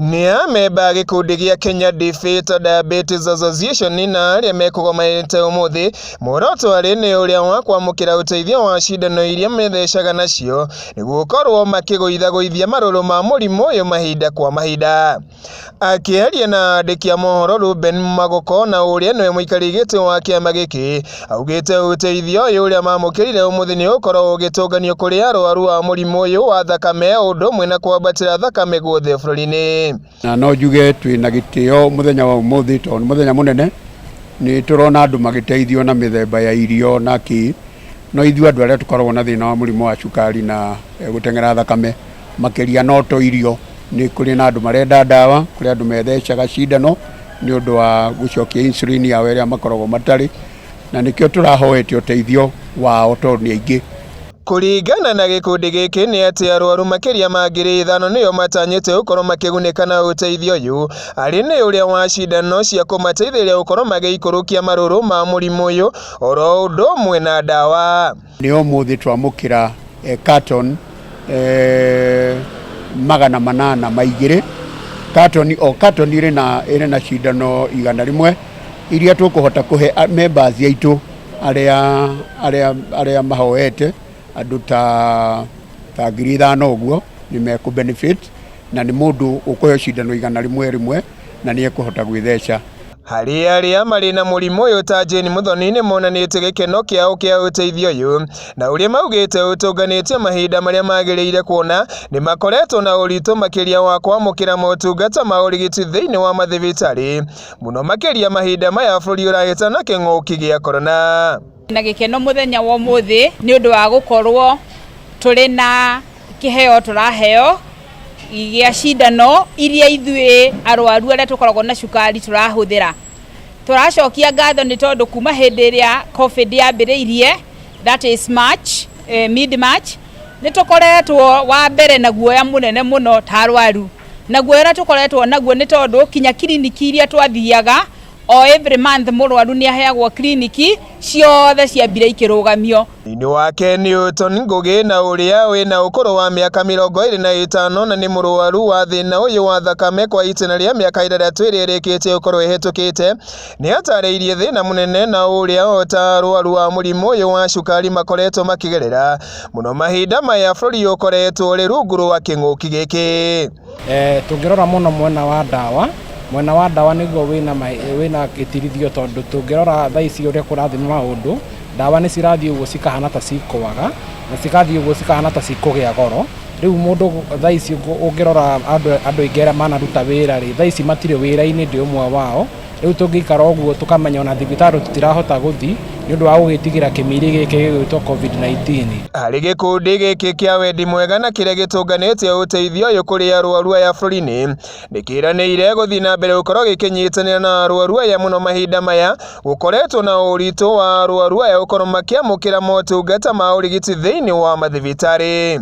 Nĩ amemba a gĩkundi gĩa Kenya Defeat Diabetes Association na arĩa mekũgomanĩte ũmũthĩ muoroto arĩ nĩ ũrĩa wa kwamũkĩra ũteithio wa cindano iria methecaga nacio nĩguo gũkorwo makĩgũithagũithia marũrũ ma mũrimũ ũyũ mahinda kwa mahinda. Akĩaria na andĩki a mohoro Ruben Magoko na ũrĩa nĩwe mũikarĩri gĩtĩ wa kĩama gĩkĩ augĩte ũteithio ũyũ ũrĩa mamũkĩrire ũmũthĩ nĩ ũkorwo ũgĩtũnganio kũrĩ arwaru a mũrimũ ũyũ wa thakame ũndũ ũmwe na kwambatĩra thakame guothe bũrũri-inĩ na no njuge twĩ na gĩtĩo mũthenya wa ũmũthĩ tondũ nĩ mũthenya mũnene nĩ tũrona andũ magĩteithio na mĩthemba ya irio na kĩ no ithuĩ andũ arĩa tũkoragwo na thĩna wa mũrimũ wa cukari na eh, gũteng'era thakame makĩria no to irio nĩ kũrĩ na andũ marenda ndawa kũrĩ andũ methecaga cindano nĩ ũndũ wa gũcokia insulin yao ĩrĩa makoragwo matarĩ na nĩkĩo tũrahoete ũteithio wao tondũ nĩ aingĩ Kũringana na gĩkundi gĩkĩ nĩ atĩ arwaru makĩria ma ngiri ithano nĩo matanyĩte gũkorwo makĩgunĩka na ũteithio ũyũ, arĩ nĩ ũrĩa wa cindano cia kũmateithĩrĩria gũkorwo magĩikũrũkia marũrũ ma mũrimũ ũyũ, oro ũndũ ũmwe na ndawa. nĩ ũmũthĩ twamũkĩra eh, carton eh, magana manana ma igĩrĩ carton o carton ĩrĩ na ĩrĩ na cindano igana rĩmwe iria tũkũhota kũhe a- members aitũ arĩa arĩa arĩa mahoete andũ ta ta ngiri ithano ũguo nĩ mekũ benefit na nĩ mũndũ ũkũheo cindano igana rĩmwe rĩmwe na nĩ ekũhota gwĩtheca Harĩ arĩa marĩ na mũrimũ ũyũ ta Jane Muthoni nĩ monanĩtie gĩkeno kĩao kĩa ũteithio ũyũ na ũrĩa maugĩte ũtũnganĩtio mahinda marĩa magĩrĩire kuona nĩ makoretwo na ũritũ makĩria wa kwamũkĩra motungata ma ũrigiti thĩinĩ wa mathibitarĩ mũno makĩria mahinda maya bũrũri ũrahĩtana kĩng'ũki gĩa korona. na gĩkeno mũthenya wa ũmũthĩ nĩ ũndũ wa gũkorwo tũrĩ na kĩheo tũraheo gĩa cindano iria ithuĩ arwaru arĩa tũkoragwo na cukari tũrahũthĩra tũracokia ngatho nĩ tondũ kuma hĩndĩ ĩrĩa covid yambĩrĩirie that is march eh, mid march nĩ tũkoretwo wa mbere na guoya mũnene mũno ta arwaru na guoya ũrĩa tũkoretwo naguo nĩ tondũ kinya kiriniki iria twathiaga O every month mũrwaru nĩ aheagwo kiriniki ciothe cia mbira ikĩrũgamio. Thĩinĩ wake Newton Ngũgĩ na ũrĩa wĩ na ũkũrũ wa mĩaka mĩrongo ĩrĩ na ĩtano na nĩ mũrwaru wa thĩna ũyũ wa thakame kwa itĩna rĩa mĩaka ĩtandatũ ĩrĩa ĩrĩkĩtie gũkorwo ĩhetũkĩte, nĩ atarĩirie thĩna mũnene na ũrĩa o ta arwaru a mũrimũ ũyũ wa cukari makoretwo makĩgerera mũno mahinda maya bũrũri ũkoretwo ũrĩ rungu rwa kĩng'ũki gĩkĩ. Eh, tũngĩrora mũno mwena wa ndawa mwena wa ndawa nĩguo wĩna ma- wĩna gĩtirithio tondũ tũngĩrora thaa ici ũrĩa kũrathiĩ maũndũ ndawa nĩ cirathiĩ ũguo cikahana ta cikwaga na cigathiĩ ũguo cikahana ta cikũgĩa goro rĩu mũndũ gũ- thaa ici ũngũ- ũngĩrora andũ andũ aingĩ arĩa manaruta wĩra rĩ thaa ici matirĩ wĩra-inĩ ndĩ ũmwe wao rä u tå ngä ikara å guo tå kamenya ona thibitarä tå tirahota gå thi nä å ndå wa gå gä tigä ra kä miri gä kä gä gwä two covid-19. Harĩ gĩkundi gĩkĩ kĩa wendi mwega na kĩrĩa gĩtũnganĩtie ũteithio ũyũ kũrĩ arwaru aya bũrũri-inĩ nĩkĩranĩire gũthiĩ na mbere gũkorwo gĩkĩnyitanĩra na arwaru aya mũno mahinda maya gũkoretwo na ũritũ wa arwaru aya gũkorwo makĩamũkĩra motungata ma ũrigiti thĩinĩ wa mathibitarĩ.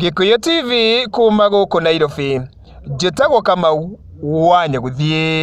Gĩkũyũ TV kuuma gũkũ Nairobi, njĩtagwo Kamau wa Nyagũthiĩ.